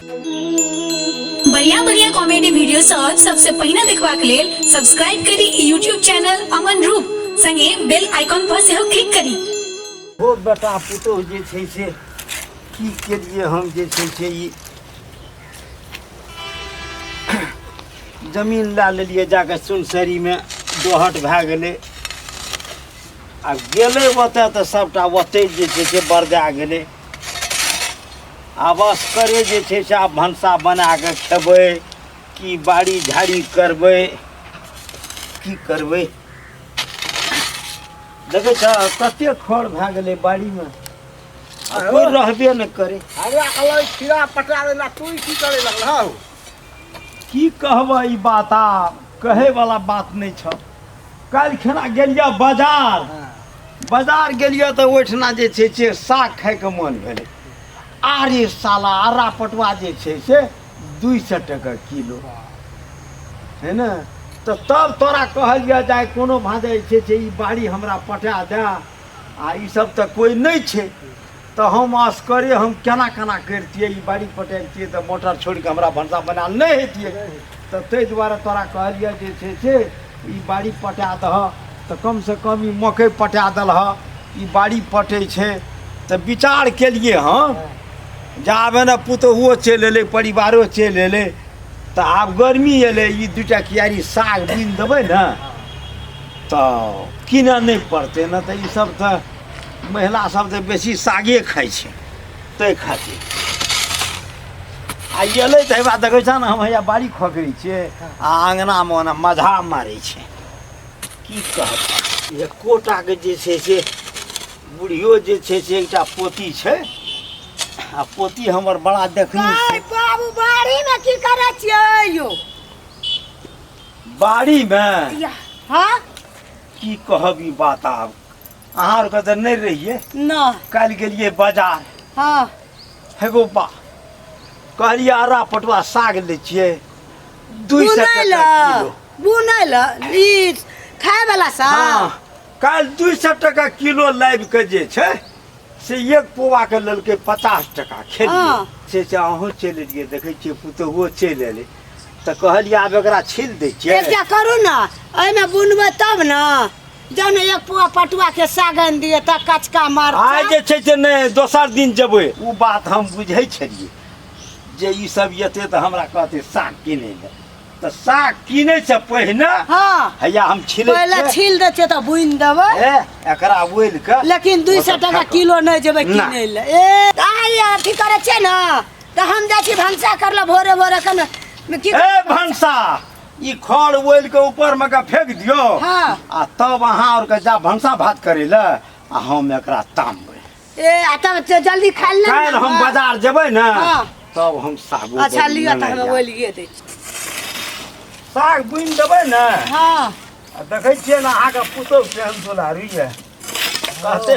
बढ़िया बढ़िया comedy video सब सबसे पहिने देखबाक लेल सब्सक्राइब करी ई यूट्यूब चैनल अमन रूप संगे बेल आइकॉन पर सेहो क्लिक करी ओ बेटा पुतोह जे छै से की केलिए हम जे छै से ई जमीन लए लेलिए जाके सुनसरीमे दोहट भए गेलै आ गेलै ओतऽ तऽ सभटा ओतहि जे छै से बरदा गेलै आब असकरे जे छै से आब भनसा बना कऽ खेबै कि बाड़ी झाड़ी करबै की करबै देखै छ कते खर भए गेलै बाड़ीमे आ कोइ रहबे नहि करै हमरा कहलक खीरा पटा देना तू की करे लगल हौ की कहबह ई बात आब कहैवला बात नहि छौ काल्हि खेना गेलियै बाजार हाँ। बाजार गेलियै तऽ ओहिठिना जे छै से साग खायके मोन भेलै आरे साला आरा पटुआ जे छै से दुइ सए टके किलो है ने तऽ तब तोरा कहल जाए जाए कोनो भाँजे जे छै से ई बाड़ी हमरा पटा दए आ ई सब तऽ कोइ नहि छै तऽ हम असकरे हम केना केना करितियै ई बाड़ी पटेबतियै तऽ मोटर छोड़ि कऽ हमरा भनसा बनायल नहि हेतियै तऽ ताहि दुआरे तोरा कहलियै जे छै से ई बाड़ी पटा दह तऽ कमसँ कम ई मकइ पटा देलह ई बाड़ी पटै छै तऽ विचार केलियै हँ जे आब एने पुतोहुओ चलि एलै परिवारो चलि एलै तऽ आब गर्मी एलै ई दू टा कियारी साग बीन देबै ने तऽ कीनय नहि पड़तै ने तऽ ईसभ तऽ महिला सब तऽ बेसी सागे खाइ छै ताहि खातिर आ एलै तऽ हेबा देखै छह ने हम हैया बाड़ी खोकरी छियै आ अङ्गनामे ओना मझा मारै छै की कहब जे कोटाके जे छै से बुढ़ियो जे छै से एकटा पोती छै आ पोती हमर बड़ा देखनी छै आय बाबू बाड़ी में की करे छियै यो बाड़ीमे या हाँ की कहब ई बात आब अहाँ आरके तऽ नहि रहियै नहि काल्हि गेलियै बाजार हँ हेगो बा कहलियै अरा पटुआ साग लै छियै दुइ सए बुनै लऽ टका किलो बुनै लऽ ई खाय वाला सा हँ काल्हि दुइ सए टका किलो लाबि कऽ जे छै से एक पौआके लेलकै पचास टका खेलियै हँ। से से अहूँ चलि एलियै देखै छियै पुतोहुओ चलि एलै तऽ कहलियै आब एकरा छील दै छियै एकटा करू ने एहिमे बुनबै तब ने जहन एक पुआ पटुआ के सागन दिए त कचका मार आइ जे छै से नहि दोसर दिन जेबै ओ बात हम बुझै छलियै जे ई सब एतै तऽ हमरा कहतै साग किनै लए तऽ साग किनै से पहिने हाँ हैया हम छिलै पहिले छियै। छील दै छियै तऽ बुनि देबै ए, एकरा बोल के लेकिन दू सौ टका किलो नहि जेबै ना। किनै लए ए आइ अथी करै छै ने तऽ हम जाइ छी भनसा करले भोरे भोरे कने की ए भनसा ई खड़ ओल के ऊपर में के फेंक दियो हाँ। आ तब अहाँ और के जा भंसा भात करे ले आ हम एकरा तामबे ए आ तब ज- जल्दी खा ले काल हम बाजार जेबै ना हाँ। तब हम सागो अच्छा बड़ी लियो त लेने हम जाएब। बोलिए दे साग बुनि देबै ना हां आ देखै छियै ने अहाँके पुतहु केहन दुलारी यऽ कहते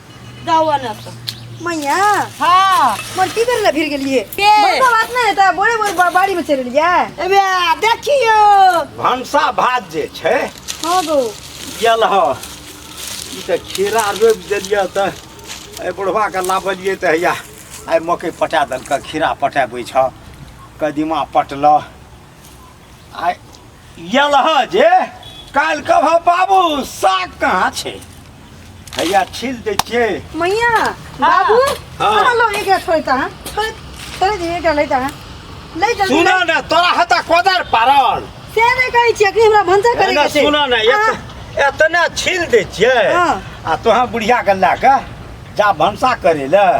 गावा ना तो मैया हाँ मोर की कर ले फिर के लिए के? बड़का बात ना है ता बोले बोले बा- बाड़ी में चल लिया अबे देखियो भनसा भात जे छै हां गो यल ह ई तऽ खीरा रोपि देलियै तऽ एहि बुढ़बाके लाबलियै तऽ हैया आइ मकइ पटा देलकै खीरा पटाबै छह कदीमा पटलह आ यलह जे काल्हि कह बाबू साग कहाँ छै हैया छील दै छियै मैया बाबू हाँ। कहाँ लोग एक रात छोड़ता है छोड़ छोड़ दिए क्या लेता है ले जल्दी सुन ले। न तोरा हता कोदर पारल से नहीं कहै छियै कि हमरा भंसा करे एना के छै सुन न हाँ, एत- एतना छील दै छियै हाँ। आ तोहाँ बुढ़िया के लए कऽ जा भनसा करे लए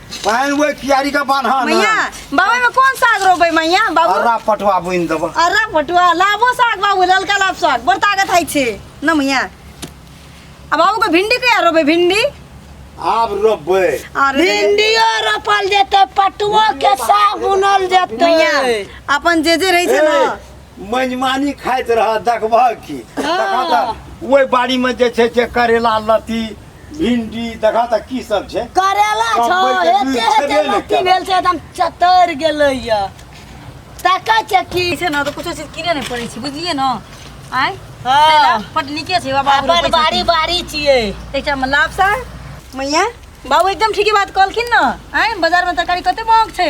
पानि ओहि कियारी के बान्हा ना मैया बाबा में कौन साग रोबे मैया बाबू अररा पटवा बुनि देबऽ अरे पटुआ लाबो साग बाबू ललका लाब साग बड़ ताकत है छे न मैया आ बाबू को भिंडी कहिया रोबे भिंडी आब रोपबै अरे भिंडियो रोपल जेतै पटुओ के साग बुनल जेतै मैया अपन जे जे रहे छे ना ए, मनमानी खाइत रह देखबह की देखा तऽ ओहि बाड़ीमे जे छै से करेला लत्ती भिंडी देखा त की सब छै करेला छौ कमबै के एते बीज एते छेबे नहि लत्ती करै। भेल छै एकदम चतर गेलै या ताका छै की छै ना तो कुछ चीज किने नहीं पड़े छी बुझलिए ना आय हाँ। पट निके छै बाबा अपन बारी बारी छियै एकटा में लाभ सा मैया बाबू एकदम ठीके बात कहलखिन ना आय बाजार में तरकारी कते महग छै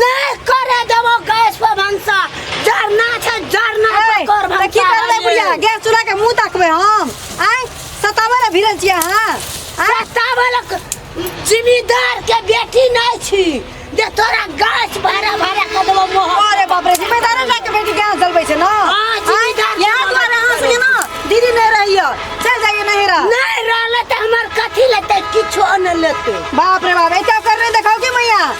नहीं करे देबो गैस पर भंसा जरना छै जरना ए, पर कर तऽ की भंसा करबै भइए। बुढ़िया गैस चूल्हा के मुंह ताकबै हम आय सताबै लए भिड़ल छियै अहाँ आय सतावलक जिम्मेदार के बेटी नहीं छी जे तोरा गैस भरा भरा कर देबो मोह अरे बाप रे जिम्मेदार लए के बेटी गैस जलबै छै ना हाँ, जिम्मेदार आय, इएह दुआरे अहाँ सबके ना दीदी नहि रहियो चल जाइए नहीं रह नहीं रहले त हमर कथी लेते किछो न लेते बाप रे बाप एते ओकर नहि देखाओ के मैया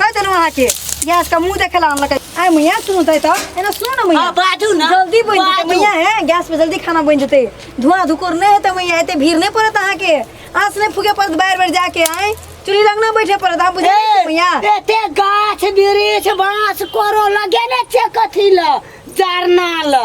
कह देलहुँ अहाँके गैस का मुंह देखे ला अनलकै आय मैया सुनू तै त एना सुनू ना मैया हाँ, बाजू ना, जल्दी बन जेतै बाजू। मैया है गैस पे जल्दी खाना बन जेतै धुआं धुकुर नहीं हेतै मैया एते भीड़ नहीं पड़त अहाँ के आस नहीं फूके पड़त बार बार जाके आए चूल्ही लग ना बैठे पड़त आप बुझे ए, मैया एते गाछ वृक्ष बाँस कोरो लगे ने छै कथी ल जरना ल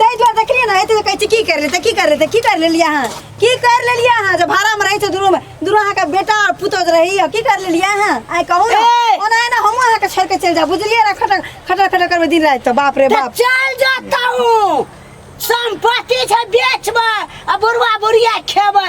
ताहि दुआरे देखलियै ने एते कहै छी की कर लेते की कर लेते की कर लेलियै अहाँ की कर लेलियै अहाँ जे भाड़ा में रहै छै दुनू में दुनू अहाँ के बेटा और पुतोह जे रहैया की कर लेलियै अहाँ आइ कहू ने ए! ओना है ना हम अहाँ के छोड़ के चल जाब बुझलियै ना खटर खटर खटर करबै दिन राति तो बाप रे तऽ बाप चल जाता हूँ संपत्ति छै बेचबै आ बुढ़वा बुढ़िया खेबै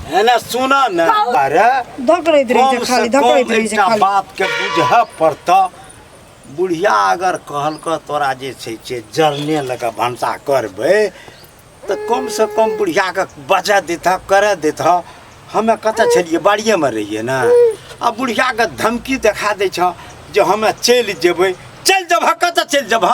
है ना सुना ना अरे धकड़ैत रहै कम छै से खाली कम धकड़ैत रहै छै एकटा खाली बात के बुझऽ पड़तऽ बुढ़िया अगर कहलक तोरा जे छै से जरने लऽ कऽ भनसा करबै तऽ कम से कम बुढ़िया के बजा देतह करे देतह हमे कतऽ छलियै बाड़िए मे रहियै ने आ बुढ़िया के धमकी देखा दै छह जे हमे चलि जेबै चलि जेबह कतऽ चलि जेबह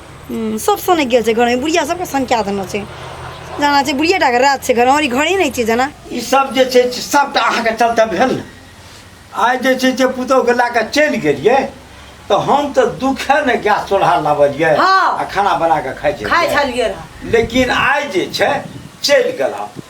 हम्म, सब सनक गेल छै घरमे बुढ़िया सबके सनका देने छै जाना छै बुढ़िया टाके राज छै घर हमर ई घरे नहि छै जाना ई सब जे छै से सबटा अहाँके चलते भेल ने आइ जे छै से पुतहुके लए कऽ चलि गेलियै तऽ हम तऽ दुखे ने गैस चूल्हा लाबलियै हाँ। आ खाना बना कऽ खाइ खाइ छलियै छलियै रहए लेकिन आइ जे छै चलि गेला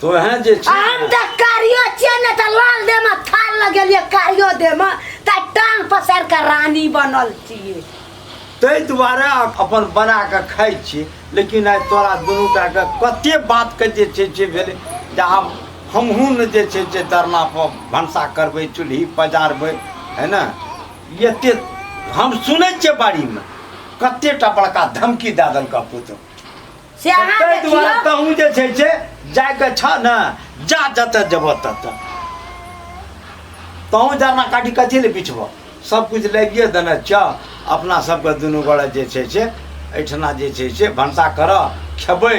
तो है जे छी हम त कारियो छियै ने त लाल दे में थाल लगेलिए कारियो दे में त टांग पसार के रानी बनल छियै ताहि दुआरे अपन बना के खाइ छी लेकिन आइ तोरा दुनू टा के कते बात के जे छै जे भेलै जे आब हमहूँ ने जे छै जे दरना पर भनसा करबै चूल्ही पजारबै है ने एते हम सुनै छियै बाड़ीमे कतेटा बड़का धमकी दए देलका पुतहु से अहाँ ताहि देखियौ दुआरे तहूँ जे छै से जाइके छ ने जा जतऽ जेबह ततऽ तहूँ जरना काटि कथी लए बिछबह सभकिछु लागिए देने छ अपना सभके दुनू गोड़ा जे छै से एहिठिना जे छै से भनसा करऽ खेबै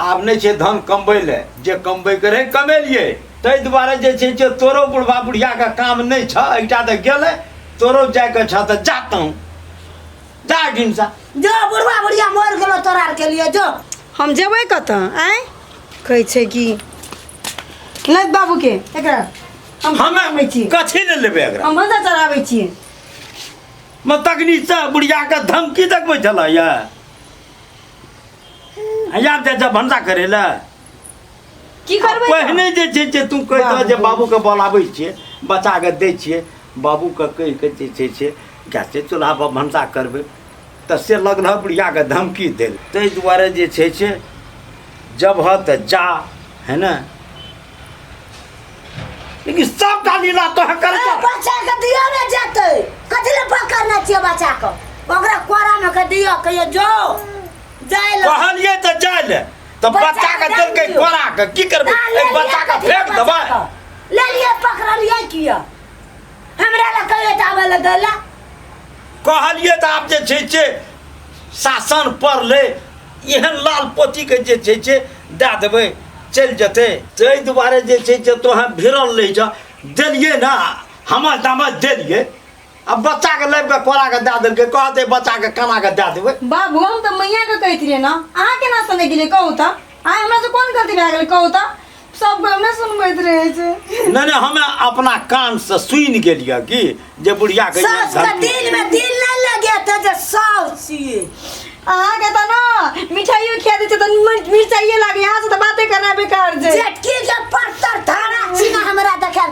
आब नहि छै धन कमबै लए जे कमबैके रहै कमेलिए ताहि दुआरे जे छै से तोरो बुढ़बा बुढ़ियाके काम नहि छऽ एकटा तऽ गेलै तोरो जाइके छऽ तऽ जा तहूँ चार दिन से जो बुढ़वा बुढ़िया मर गेलो तोरा आर के लिए जो हम जेबै कतऽ आँय कहै छै कि लग बाबूके एकरा हम हम आबै छी कथी ले लेबै एकरा हम बंदा चढ़ाबै छियै म तकनी से बुढ़िया के धमकी देखबै छलै या आब जाइ छै भंडा करै लए की करबै पहिने जे छै से तू कहि दह जे बाबूके बोलाबै छियै बच्चाके दै छियै बाबूके कहि कऽ जे छै से गैसे चूल्हापर भनसा करबै तऽ से लगल बुढ़ियाके धमकी देल ताहि दुआरे जे छै से जब ह तऽ जा है ने लेकिन सबटा लीला तो कर बच्चा के दियो ने जेतै कथि ले पकड़ना छियै बच्चा के ओकरा कोरा में के दियो कहियो जो जाय ले कहलिए तऽ जाय ले तऽ बच्चा के देलकै कोरा के की करबै ए बच्चा के फेंक देबै ले लिए पकड़लिए किया हमरा ल कहियो त आबे ल देला कहलिए त आप जे छै छै शासन पर ले एहन लाल पोती के जे छै छै दए देबै चलि जेतै ताहि दुआरे जे छै से तोहें भिड़ल रही छ देलिए ना हमर दामद देलिए आ बच्चा के लाइब के कोरा के दे देलके कहते बच्चा के कमा के दे देबे बाबू हम तो मैया के कहते रहे ना अहाँ केना सुने गेलियै कहू तऽ आइ हमरा से कोन गलती भए गेल कहू तऽ सब कोइ हमरा सुनबैत रहै छै नहीं नहीं हमें अपना कान से सुन गेलिए कि जे बुढ़िया के ये सास के धरती- दिल में दिल नहीं लगे थे जे सास छिए अहाँके तऽ ने मिठाइयो खिया दै छै तऽ मिर- मिरचाइये लागै अहाँ से तऽ बाते करना बेकार छै जेटकी के पत्थर धारा छिना हमरा देखाल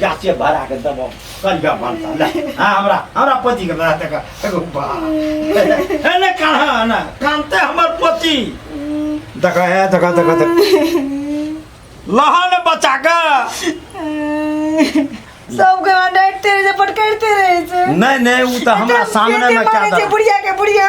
गाछे भरा के दबो करिया बनता ले हां हमरा हमरा पति के बना तक एगो बा ए ने कहा ना कांते हमर पति देख ए देख देख देख लहन बचा के सबके वहाँ डांटते रहे छै पटकरते रहे छै नहीं नहीं उ त हमरा सामने में क्या बुढ़िया के बुढ़िया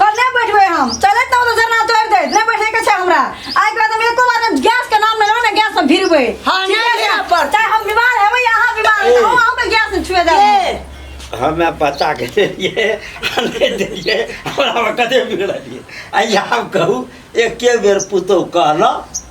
कल नहीं बैठबे हम चले तो उधर धरना तोड़ दे नहीं बैठे के छै हमरा आइ के बाद हम एको बार ने गैस के नाम लेलो ने गैस में भिरबे हाँ, ठीक नहीं है लेना ना? पड़ता। चाहे हम बीमार हेबै या अहाँ बीमार हेबै हम अहाँ के गैस में छुए दे ए, हमे पता के देलिए आ नहि देलिए हमरा कते बिगड़लिए आ आब कहू एके बेर पुतहु कहलहुँ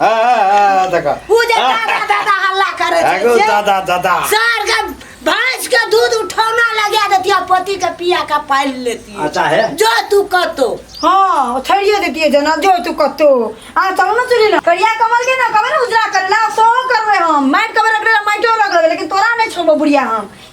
देखा उ जे दादा दादा हल्ला करे छै एगो जे दादा दादा सार के भैंस के दूध उठौना लगा देतिया पति के पिया का पालि लेती अच्छा है जो तू कतो हाँ छोड़िए देती जना जो तू कतो आ चलो ना चली ना करिया कमल के ना कमल उजरा कर ला सो करवे हम माइट कमल रख ला माइटो रख ला लेकिन तोरा नहीं छोड़बो बुढ़िया हम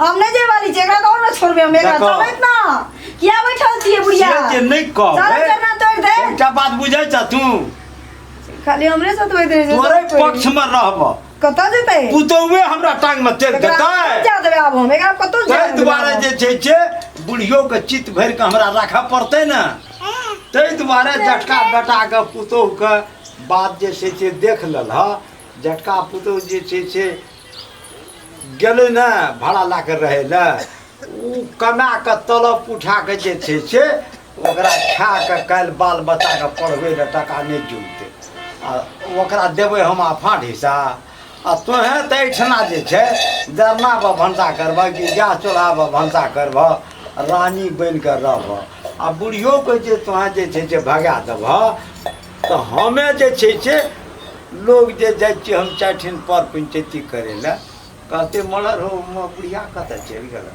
हम नहीं जे वाली जेकरा कौन ना छोड़बे हम एकरा देखो। चलत ना किया बैठल छिए बुढ़िया से जे नहीं कह चल करना तोड़ दे एकटा बात बुझै छ तू खाली हमरे साथ होइत रहे तोरे पक्ष में रहब कत जेतै पुतौए हमरा टांग में तेल एकरा देतै जा देबे आब हम एकरा कत जा ताहि दुआरे जे छै से बुढ़ियो के चित्त भरि के हमरा राखऽ पड़तै ने ताहि दुआरे जटका बेटा के पुतोह के बात जे छै से देख लेल ह जटका पुतोह जे छै से गेलै ने भाड़ा लए कऽ रहै लए ओ कमा कऽ तलब उठा कऽ जे छै से ओकरा खा कऽ काल्हि बाल बच्चाके पढ़बै लए टाका नहि जुटतै आ ओकरा देबै हम आफाट हिस्सा आ तोहेँ तऽ एहिठिना जे छै जरना पर भनसा करबह कि गैस चूल्हा पर भनसा करबह रानी बनि कऽ रहबह आ बुढ़ियोके जे तोहेँ जे छै से भगा देबह तऽ हमे जे छै से लोग जे जाइ छियै हम चारि ठिन पर पंचैती करै लए कहते मलर हो म- बुढ़िया कतऽ चलि गेल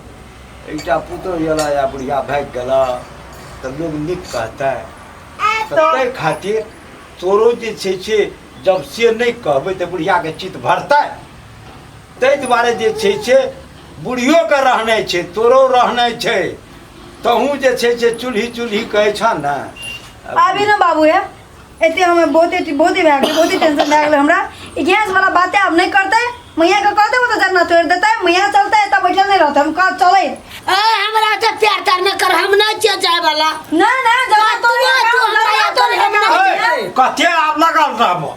एकटा पुतोह गेला या बुढ़िया भागि गेला तऽ लोग नीक कहतै तऽ ताहि खातिर तोरो जे छै से जब से नहि कहबै तऽ बुढ़ियाके चित भरतै ताहि दुआरे जे छै से बुढ़ियोके रहनाइ छै तोरो रहनाइ छै तहूँ जे छै से चूल्ही चूल्ही कहै छ ने आबी ने बाबू हे एते हमे बहुते बहुते भए गेलै बहुते टेंशन भए गेलै हमरा ई गैस वाला बाते आब नहि करतै मैया के कहते तो जन्ना तोड़ देते मैया चलते तब बैठल नहीं रहते हम कह चले ए हमरा से प्यार कर न कर हम नहीं चल जाए वाला ना ना जब तो तो हमरा तो हम ना कते आब लगल रहबो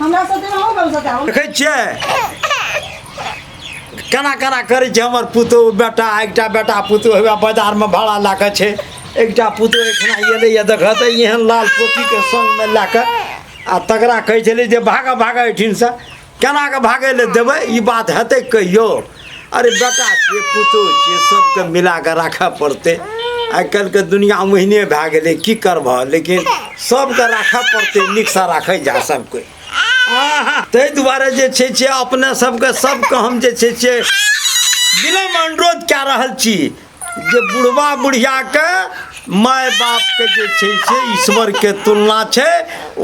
हमरा साथे अहूँ कम साथे आउ देखै छियै केना केना करै छै हमर पुतोह बेटा एकटा बेटा पुतोह हउए बाजारमे भाड़ा लए कऽ छै एकटा पुतोह एखना एलैए देखऽ तऽ एहन लाल पोतीके सङ्गमे लए कऽ आ तकरा कहै छलै जे भागऽ भागऽ एहिठिनसँ केना कऽ भागै लए देबै ई बात हेतै कहियो अरे बेटा छियै पुतहु छियै सबके मिला कऽ राखऽ पड़तै आइ काल्हिके दुनिया ओहिने भए गेलै की करबह लेकिन सबके राखऽ पड़तै नीकसँ राखै जा सब कोइ आहा, ताहि दुआरे जे छै से अपने सबके सबके हम जे छै से विनम्र अनुरोध कए रहल छी जे बुढ़वा बुढ़ियाके माय बापके जे छै से ईश्वरके तुलना छै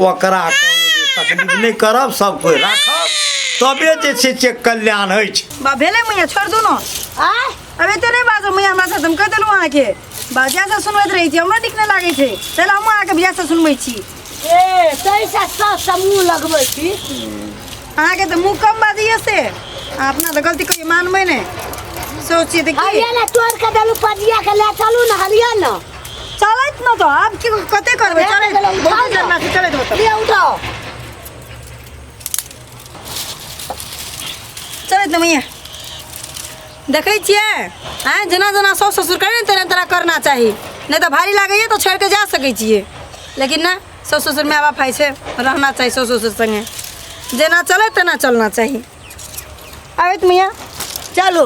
ओकरा तकलीफ नहि करब सब कोइ राखब तबे जे छै से कल्याण होइ छै बा भेलै मैया छोड़ दू ने आय अब एते नहि बाजब मैया हमरा साथ हम कहि देलहुँ अहाँके बा जैसा सुनबैत रहै छी हमरा नीक नहि लागै छै चल हमहूँ अहाँके जैसा सुनबै छी ए तैसा सब समूह लगबै छी अहाँके तऽ मुँह कम बाजिए से अहाँ अपना तऽ गलती कहियो मानबै ने सोचिए तऽ की हरिया ने तोड़ के देलू पजिया के ले चलू ने हरिया ने चलैत न तऽ आब की कते करबै अरे, चलैत चलैत, बहुत चलैत। जन्मा छै चलैत होतै ले उठाओ चलैत न मैया देखै छियै आँय जेना जेना साउस ससुर करै तेना तेना करना चाही नहि तऽ भारी लागैए तऽ छोड़ि कऽ जा सकै छियै लेकिन नहि साउस ससुर माय बाप होइ छै रहना चाही साउस ससुर सङ्गे जेना चलै तेना चलना चाही आबैत मैया चलू